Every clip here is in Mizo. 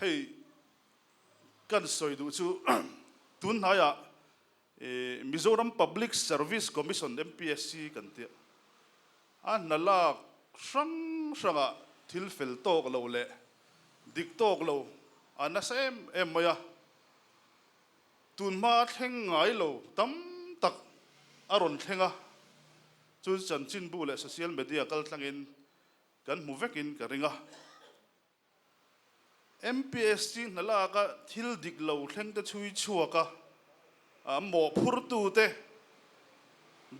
hei kan sawi duh chu tun hnaia Mizoram Public Service Commission, MPSC, kan tia a hna lak hrang hranga thil fel tawk lo leh dik tawk lo a nasa em em mai a, tun hma thleng ngai lo tam tak a rawn thleng a, chu chanchinbu leh social media kaltlangin kan hmu vekin ka ring a. MPST hna laka thil dik lo thlengte chhui chhuak a a mawh phurtute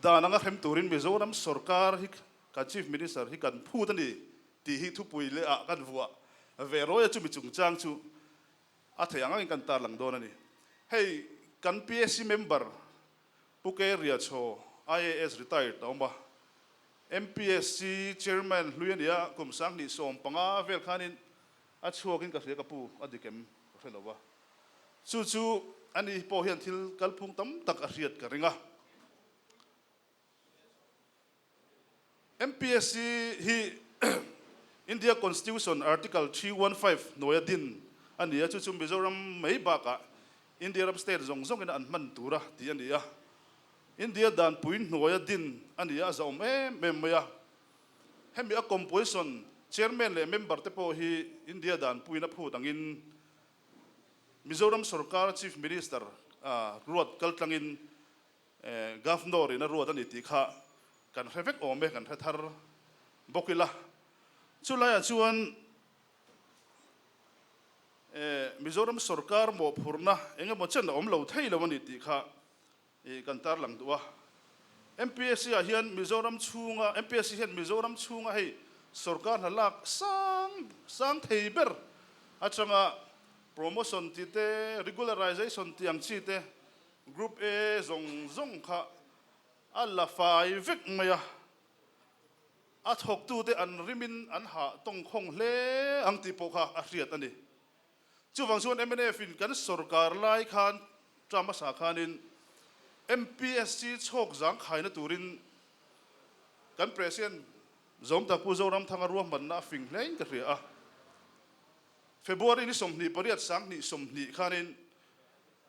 dan anga hrem turin Mizoram sorkar hi kan Chief Minister hi kan phut a ni tih hi thupui leha kan vuah ve rawih a chumi chungchang chu a theih ang angin kan tarlang dawn a ni. Hei kan PAC member Pu Kei Ria Chaw, IAS retired a awm a, MPSC Chairman hlui a ni a, kum sang hnih sawm panga vel khanin a chhuakin ka hria ka pu a dik em ka hre lo va. Chu chu a ni hi pawh hian thil kalphung tam tak a hriat ka ring a. MPSC hi India Constitution Article three one five hnuaia din a ni a, chu chu Mizoram mai bakah India ram state zawng zawngin an hman tur a tih a ni a. India dan pui hnuaia din a ni a, a zahawm em em mai a. Hemi a composition, chairman leh member te pawh hi India dan puin a phut angin Mizoram sorkar chief minister-a ruat kaltlangin, Governor-in a ruat a ni tih kha kan hre vek awm e, kan hre thar bawk ila. Chu laiah chuan Mizoram sorkar mawhphurhna eng emaw chen a awm lo thei lo a ni tih kha kan tarlang duh a. MPSC-ah hian Mizoram chhunga, MPSC hian Mizoram chhunga hei sorkar hna lak sang sang thei ber atanga promotion tih te, regularization tih ang chi te Group A zawng zawng kha a la fai vek mai a, a thawktute an rimin an hah tawngkhawng hle ang tih pawh kha a hriat a ni. Chuvang chuan MNF-in kan sorkar lai khan ṭa hmasa khanin MPSC chhawk zang khaina turin kan President Zawmtak Pu Zoramthanga ruahmanna a fing hlein ka hria a. February ni sawmhnih pariat sang hnih sawmhnih khanin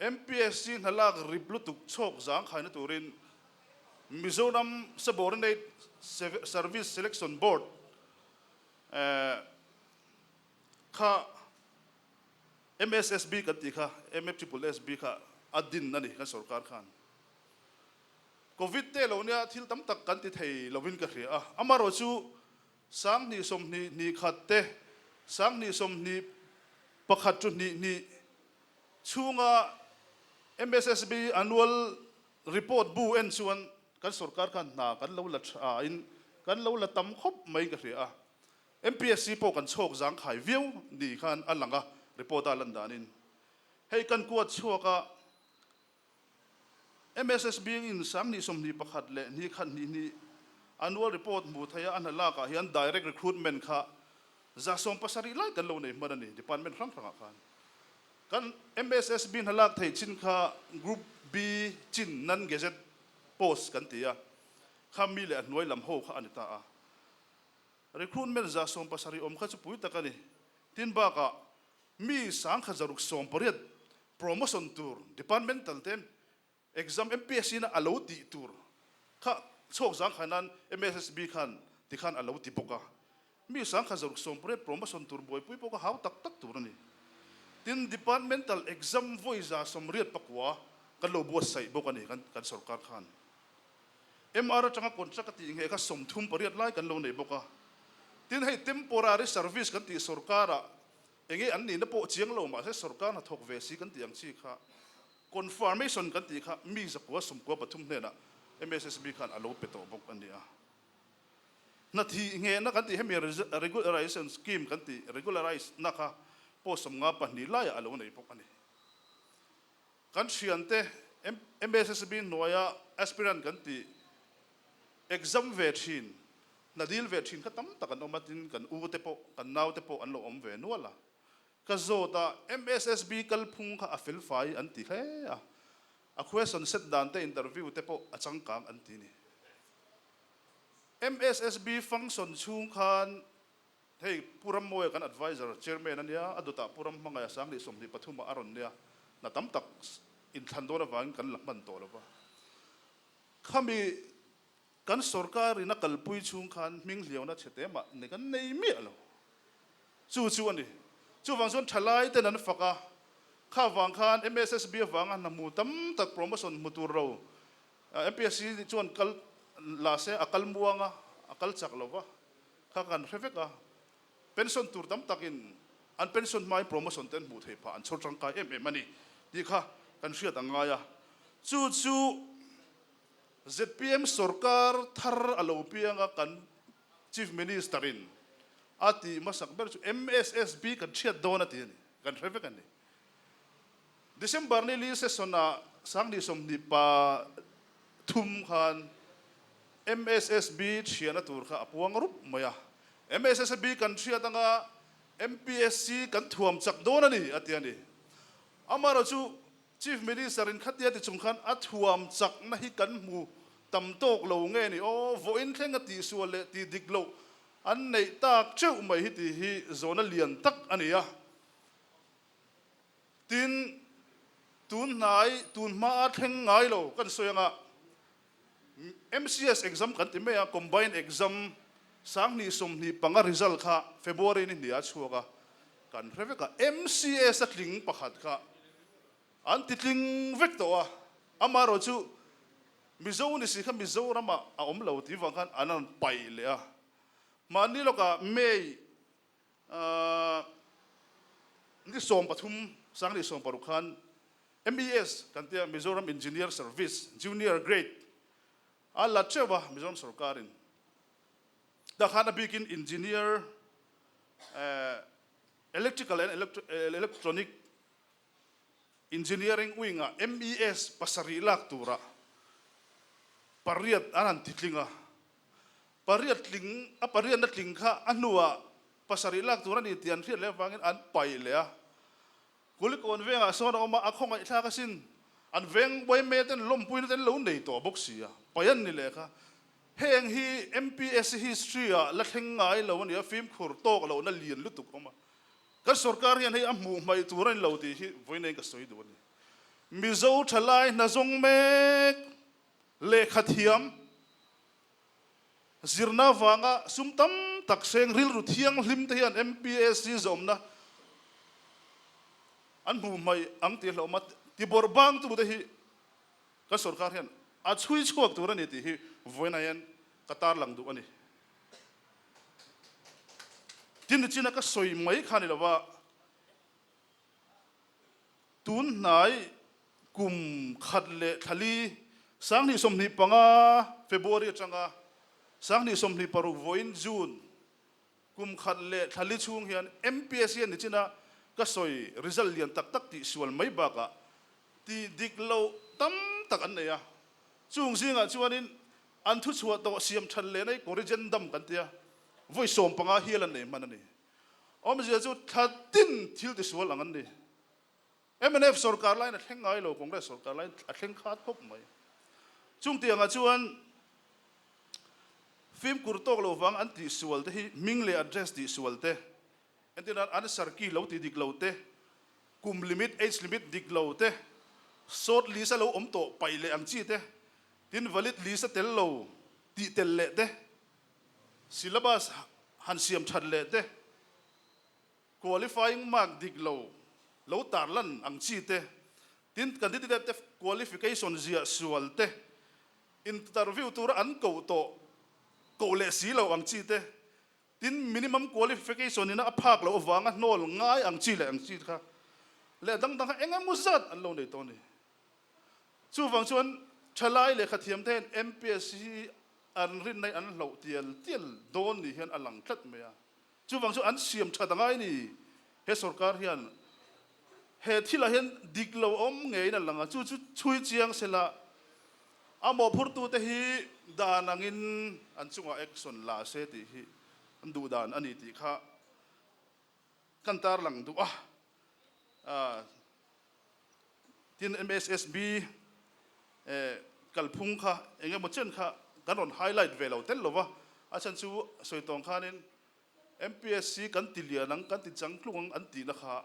MPSC hnalak rip lutuk chhawk zangkhaina turin Mizoram Subordinate Service Selection Board kha MSSB kan tih kha MFSSB kha a din a ni kan sorkar khan. Covid te lo nia thil tam tak kan ti thei lovin ka hria a. Amarawh chu Sanghnih sawmhnih hnih khat te, sanghnih sawmhnih pakhat chu hnih hnih chhunga mssb annual report bu en chuan kan sorkar khan hna kan lo la tha in kan lo la tam khawp mai ka hria a. Mpsc pawh kan chhawk zang khai viau nih khan a lang a report a lan dan in. Hei kan kuat chhuak a, MSS Biakin Sam Hnih Sawmhnih pakhat leh Hnih khat hnih hnih Annual Report hmuh theih a, a hnalak ah hian Direct Recruitment kha za sawm pasarih lai kan lo nei hman a ni, Department hrang hrang ah khan. Kan MSS Bi hnalak thei chin kha Group B Chin Non Gazette Post kan ti a, kha mi leh a hnuai lam ho kha a ni ta a. Recruitment za sawm pasarih awm kha chu pui tak a ni, tin bak ah mi sangkhat zaruk sawm pariat promotion tur departmental te exam MPSC na alo tih tur kha chhawk zangkhai nan MSSB khan tikhan alo ti bawk a, mi sangkhat zaruk sawm pariat promotion tur buaipui pawh kha hau tak tak tur a ni. Tin, departmental exam vawiza sawmriat pakua kan lo buatsaih bawk a ni kan sorkar khan. MR atanga contract a tih nghe kha sawmthum pariat lai kan lo nei bawk a, tin hei temporary service kan tih sorkara eng nge an nihna pawh chiang lo mahse sorkar hnathawk ve si kan tih ang chi kha confirmation kan tih kha mi zakua sumkua pathum hnenah mssb khan a lo pe tawh bawk a nia. Hnathih nghehna kan tih hemi regularisation scheme kan tih regularise na kha pawh sawmnga pahnih laiah a lo nei bawk a ni. Kan thian te MASSB hnuaia aspirant kan tih exam ve thin, hna dil ve thin kha tam tak an awm a tin kan u te pawh kan nau te pawh an lo awm ve nual a. Ka zawt a MASSB kalphung kha a fel fai an ti hle a, a question set dan te interview te pawh a changkang an ti ni. MASSB function chhung khan Hei Pu Rammawi kan advisor, chairman a nia, a dawtah Pu Ramhmangaia sang leh sawmhnih pathuma a rawn nia, hna tam tak in thlan dawn avangin kan la hman tawh lova. Khami kan sorkar in a kalpui chhung khan hming hliauna chhe te mah ni kan nei miah lo. Chu chu a ni. Chuvang chuan thalai ten an fak a, kha vang khan mssb avanga hna hmu tam tak promotion hmu tur ro mpsc chuan kal la se a kal muang a, a kal chak lova. kha kan hre vek a, pension tur tam takin an pension hmain promotion te an hmuh theih phah an chhawr tangkai em em a ni tih kha kan hriat a ngai a. Chu chu zpm sorkar thar a lo piang a kan Chief Minister in a tih hmasak ber chu mssb kan hriat dawn a ti a ni, kan hre vek a ni. December ni Lee Session ah Sangni sawmhnih pa thum khan mssb thiana tur kha a puang rup mai a, mssb kan hriat anga MPSC kan thuam chak dawn a ni a ti a ni. Amaherawh chu Chief Minister in khatia ti chung khan a thuam chakna hi kan hmu tam tawk lo nge ni aw, vawiin thleng a tihsual leh ti dik loh an neih tak teuh mai hi ti hi zawna lian tak a ni a. Tin, tun hnai, tun hma a thleng ngai lo kan sawi ang a, MCS exam kan ti mai a, combined exam, sanghnih sawmhnih panga result kha February ni hnih a chhuak a, kan hre vek a, MCS a tling pakhat kha an ti tling vek tawh a, amaherawh chu Mizo ni si kha Mizoramah a awm lo tivang khan an rawn paih leh a, mahni lawkah May Ni sawm pathum sang ni sawm paruk khan MES kan tia Mizoram Engineer Service Junior Grade a la teuh a, Mizoram sawrkarin tah khan a bikin Engineer Electrical and Electronic Engineering wing ah MES pasarih lak tura pariat an han ti tling a. Pariat tling, a pariatna tling kha a hnuah pasarih lak tur a ni tih an hriat leh avangin an paih leh a. Kul kawn vengah sawn a awm a, a khawngaihthlak asin an veng YMA ten lawmpuina ten an lo nei tawh bawk si a, paih an ni leh kha. Heng hi MPSC history ah la thleng ngai lo a ni a, fimkhur tawk lohna lian lutuk a awm a. Kan sorkar hian hei a hmuh hmaih tur a ni lo tih hi vawiin eng ka sawi duh a ni. Mizo thalai hna zawng mek leh khat hiam zirna avanga sum tam tak hreng rilru thianghlim te hian MPAC zawmna an hmuh hmaih ang tih a hlawm a ti bawrh bang tu te hi kan sorkar hian a chhui chhuak tur a ni tih hi vawiin hian ka tarlang duh a ni. Tin nichin a ka sawi mai kha ni lova, tunhnai kum khat leh thla li sanghnih sawmhnih panga, February atanga, sanghnih sawmhnih paruk vawiin June, kum khat leh thla li chhung hian MPSC a nichin a ka sawi result lian tak tak tih sual mai bakah ti dik loh tam tak an nei a. Chung zingah chuanin An thu chhuah tawh siam chhan leh na hi corrigendum kan tia, vawi sawm panga hial an nei hman a ni. Awmzia chu thla tin thil ti sual ang an ni. Mnf sorkar laiin a thleng ngai lo, Congress sorkar laiin a thleng khat khawp mai. Chungtiangah chuan fimkur tawk lo vang an tih sual te hi hming leh address tih sual te, entir nan an sarki lo ti dik lo te, kum limit, age limit dik lo te, sawt list a lo awm tawh paih leh ang chi te Tin, valid li sa tel lo tih tel leh te, syllabus han siam that leh te, qualifying mark dik lo lo tar lan ang chi te, tin, candidate qualification ziah sual te, interview tura an koh tawh koh leh si lo ang chi te, tin, minimum qualification ina a phak loh avanga hnawl ngai ang chi leh ang chi kha leh a dang dang kha eng emaw zat an lo nei tawh a ni. Chuvang chuan thalai leh khathiam te hian MPSC hi an rinnaih an hloh tial tial dawn nih hian a lang tlat mai a. Chuvang chuan an siam that anga i ni. He sorkar hian he thilah hian dik lo awm ngeiin a lang a, chu chu chhui chiang sela a mawhphurtu te hi dan angin an chungah action la se tih hi duhdan a ni tih kha Kan tar lang duh a, tin mssb kalphung kha eng emaw chen kha kan rawn highlight ve lo tel lova, a then chu sawi tawng khanin mssb kan ti lian ang, kan ti chang tlung ang an tihna kha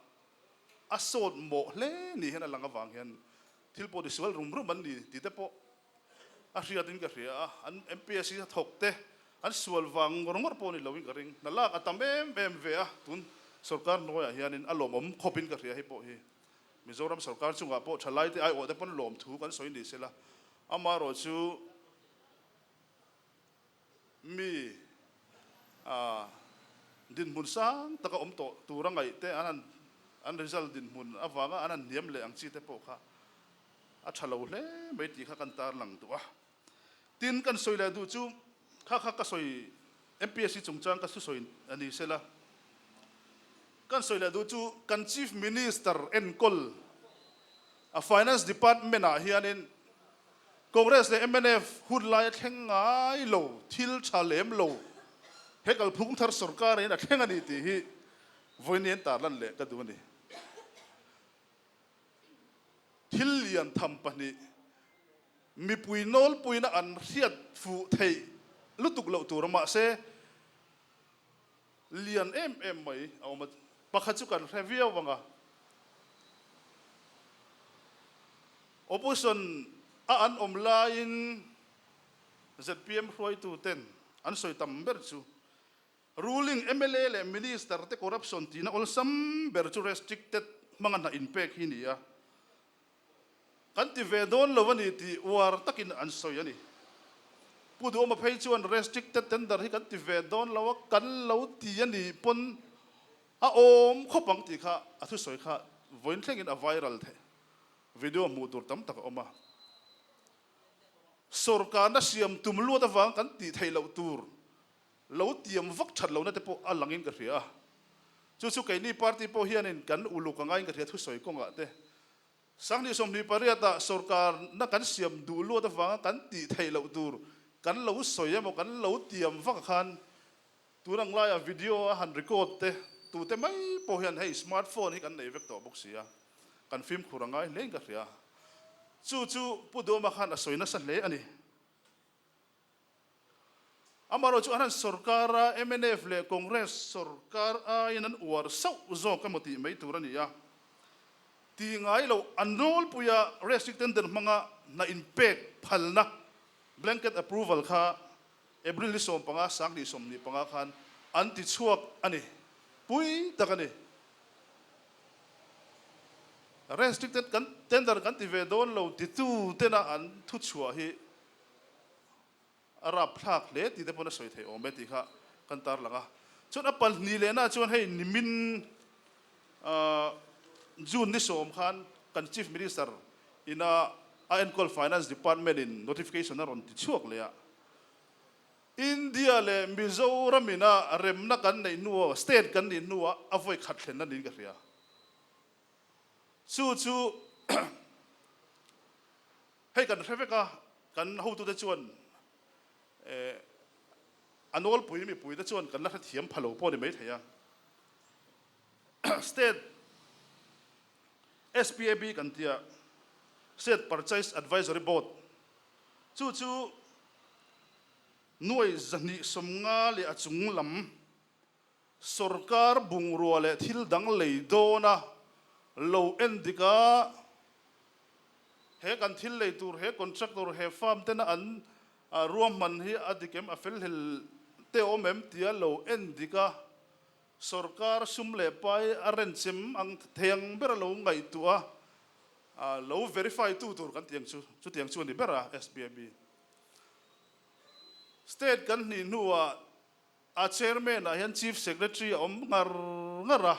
a sawt mawh hle nih hian a lang avang hian thil pawh ti sual rum rum an ni tih te pawh a hriat in ka hria a, an MPSC a thawk te an sual vang ngawr ngawr pawh a nih loin ka ring, na lak a tam em em ve a, tun sorkar hnuaiah hianin a lawmawm khawpin ka hria hei pawh hi Mizoram sorkar chungah pawh thalaite aiawhte pawn lawm thu kan sawi ni sela, amaherawhchu. mi dinhmun sang taka awm tawh tur a ngaih te, an result dinhmun avanga an han hniam leh ang chi te pawh kha a tha lo hle mai tih kha kan tarlang duh a. Tin, kan sawi leh duh chu kha kha ka sawi MPSC chungchang ka thusawi a ni se la, kan sawi leh duh chu kan Chief Minister enkawl, A Finance Department-ah hianin Congress leh mnf hun laia thleng ngai lo, thil tha lem lo he kalphung thar sawrkarin a thleng a nih tih hi vawiin a entarlan leh ka duh a ni. Thil lian tham pahnih mipui nawlpuina an hriat fuh theih lutuk loh tur mahse, Lian em em mai a awm a. Pakhat chu kan hre viau vang a, Opposition a an awm laiin zpm hruaitu ten an sawi tam ber chu Ruling mla leh Minister te corruption tihna awlsam ber chu restricted hmanga hnah inpek hi ni a, Kan ti ve dawn lo a ni tih uar takin an sawi a ni. Pu Duhawma phei chuan restricted tender hi kan ti ve dawn lo a, kan lo ti a nih pawn a awm khawp ang tih kha a thu sawi kha vawiin thlengin a viral theih. Video hmuh tur tam tak a awm a. Sorkarna siam tum luat avang kan tih theih loh tur Lo tiam vak that lohna te pawh a langin ka hria a, chu chu keini party pawh hianin kan uluk angain ka hria thu sawi kawngah te. Sanghnih sawmhnih pariata sorkar na kan siam duh luat avanga kan tih theih loh tur kan lo sawi emaw kan lo tiam vak khan tun ang laia video a han record te tute mai pawh hian hei smart phone hi kan nei vek tawh bawk sia kan fimkhur angai hlein ka hria a. Chu chu Pu Dawma khan a sawi nasa hle a ni. Amaherawhchu a han sorkar a, mnf leh Congress sorkar aiin an uar sauh zawk emaw tih mai tur a ni a. Ti ngai lo, an rawlpui a rehriat ten den hmanga hna inpek phalna, blanket approval, kha April ni sawm panga sang hnih sawm hnih panga khan an ti chhuak a ni. Pui tak a ni. Rehriat ten tender kan ti ve dawn lo titute-na an thuchhuah hi a rap thlak hle tih te pawn a sawi thei awm e tih kha kan tar lang a. Chuan a palhni lehnaah chuan hei nimin June ni sawm khan kan Chief Minister ina a enkawl Finance Department in notification a rawn ti chhuak leh a, India leh Mizoram ina remna kan neih hnu aw, state kan nih hnu ah a vawi khat thlenna niin ka hria. Chu chu Hei kan hre vek a, kan hotute chuan eh a nawlpui mipuite chuan kan la hre thiam pha lo pawh ni mai thei a. State SPAB kan tia State Purchase Advisory Board chu chu nuai zahnih sawmnga leh a chunglam, Sorkar bungrua leh thil dang lei dawna lo en dik a, he kan thil lei tur he contractor he farm tena an ruah hman hi a dik em a fel hlel teh awm em tia lo en dik a, sorkar sum leh pai a rent chem ang theng bera lo ngaihtuah a a lo verify tu tur kan ti ang chu chutiang chu a ni ber a, SBME state kan hnih hnuah. A chairman ah hian chief secretary a awm ngar ngar a,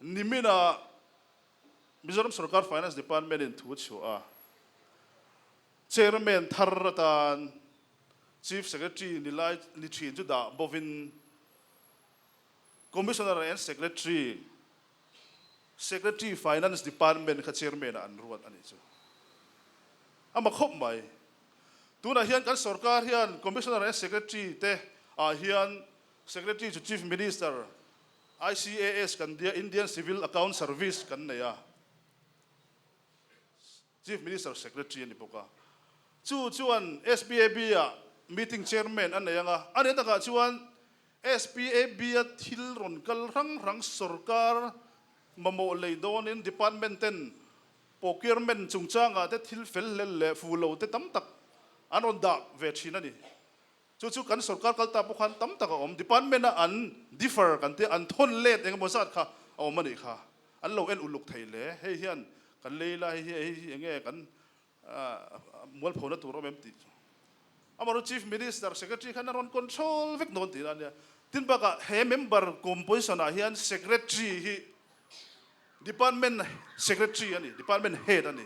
nimin ah Mizoram sorkar finance department in thu a chhuah a, chairman thar atan chief secretary ni lai ni thin chu dah bawvin commissioner and secretary Secretary Finance Department kha Chairman-a an ruat a nih chu. A ma khawp mai. Tunah hian kan sawrkar hian Commissioner e Secretary te ah hian Secretary chu Chief Minister, ICAS kan dia, Indian Civil Account Service kan nei a. Chief Minister Secretary a ni bawk a, chu chuan SPAB a Meeting Chairman a nei ang a, a ni takah chuan SPAB a thil rawn kal hrang hrang sorkar mamawh lei dawnin Department ten Procurement chungchangah te thil fel hlel leh fu lo te tam tak an rawn dah ve thin a ni. Chu chu kan sorkar kal ta pawh khan tam tak a awm, department a an differ kan tia, an thawn let eng emaw zat kha a awm a nih kha, an lo en uluk thei le, hei hian kan lei lai hi hei hi eng nge kan mualpho na tur awm em tih chu amarawh chief minister, secretary khan an rawn control vek nawn tih na ania, tin bakah he member composition ah hian secretary hi, Department Secretary a ni, Department Head a ni.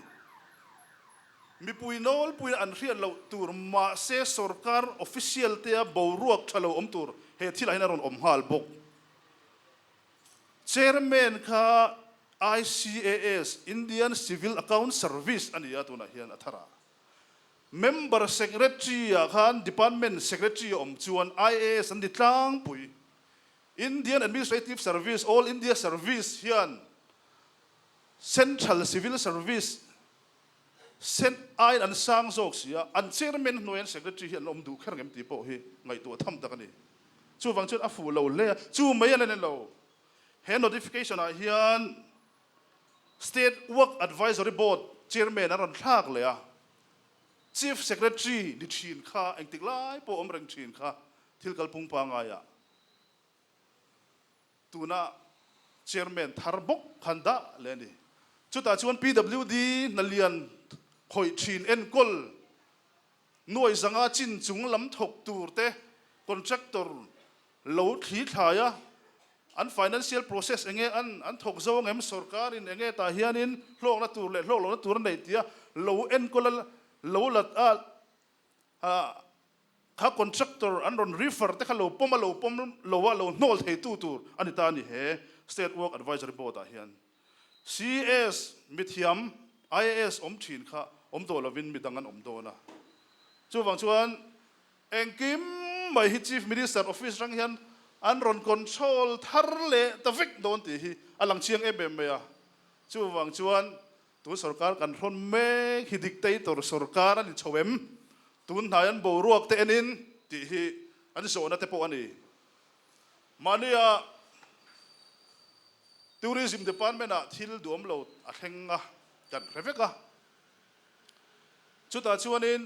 Mipui nawlpuiin an hriat loh tur mahse sorkar official tea boruak tha lo awm tur he thilah hian a rawn awm nghal bawk. Chairman kha ICAS, Indian Civil Accounts Service a ni a, tunah hian a thar a. Member Secretary-ah khan Department Secretary a awm chuan IAS an ni tlangpui. Indian Administrative Service, All India Service, hian Central Civil Service, cen, aiin an sang zawk si a, an chairman hnuai hian secretary hi an awm duh kher ngem tih pawh hi ngaihtuah tham tak a ni. Chuvang chuan a fuh lo hle a, chu mai a la nen lo. He notification ah hian State Work Advisory Board chairman an rawn thlak leh a, chief secretary ni thin kha engtik lai pawh awm reng thin kha thil kal pung pangai ah, Tuna Chairman thar bawk khan dah leh a ni. Chutah chuan PWD hnalian khawih thin enkawl nuai zanga chin chung lam thawk tur te, Contractor lo thli thlai a, an financial process enge an an thawk zo ang em, sorkarin enge tah hianin hlawkna tur leh hlawk lohna tur a neih tia lo enkawl a, lo la a, kha contractor an rawn refer te kha lo pawm a lo pawm lo a lo hnawl thei tu tur a ni ta a ni he State Work Advisory Board ah hian CS mithiam IAS awm thin kha awm tawh lovin mi dang an awm dawn a. Chuvang chuan engkim mai hi Chief Minister Office rang hian an rawn control thar leh ta vek dawn tih hi a lang chiang em em mai a. Chuvang chuan Tun sorkar kan hrawn mek hi dictator sorkar a ni chho em? Tun hnai an boruak te enin tih hi an zawhna te pawh a ni. Mahnia Tourism Department ah thil duam lo a thleng a kan hre vek a. Chutah chuanin.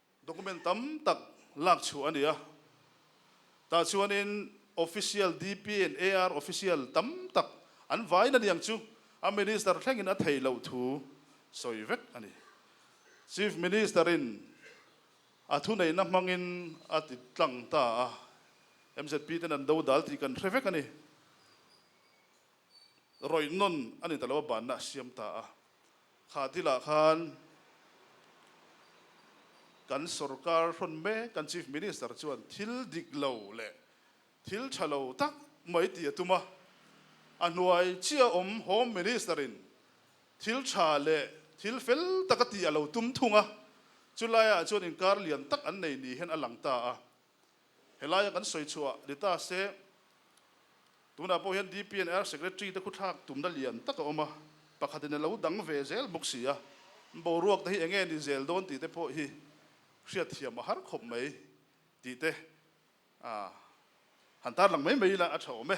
Document tam tak lak chhuah a ni a, tah chuanin official DPN AR official tam tak an vai na niang chu a Minister thlengin a thei loh thu sawi vek a ni. Chief Minister-in a thuneihna hmangin a ti tlang ta a, MZP-ten an do dal tih kan hre vek a ni. Rawihnawn a ni ta lo a, banna a siam ta a. Khadila khan kan sorkar hrawn mek kan Chief Minister chuan thil dik lo leh thil tha lo tak mai ti a tum a, a hnuai chiah awm Home Minister in thil tha leh thil fel tak a tih a lo tum thung a, chu laiah chuan inkar lian tak an nei ni hian a lang ta a. he lai a kan sawi chhuah ni ta se, tunah pawh hian DPNR Secretary te khuthlak tumna lian tak a awm a, pakhatin a lo dang ve zel bawk si a, boruak te hi enge ni zel dawn tih te pawh hi hriatthiam a har khawp mai tih te han tarlang mai mai ila a tha awm e.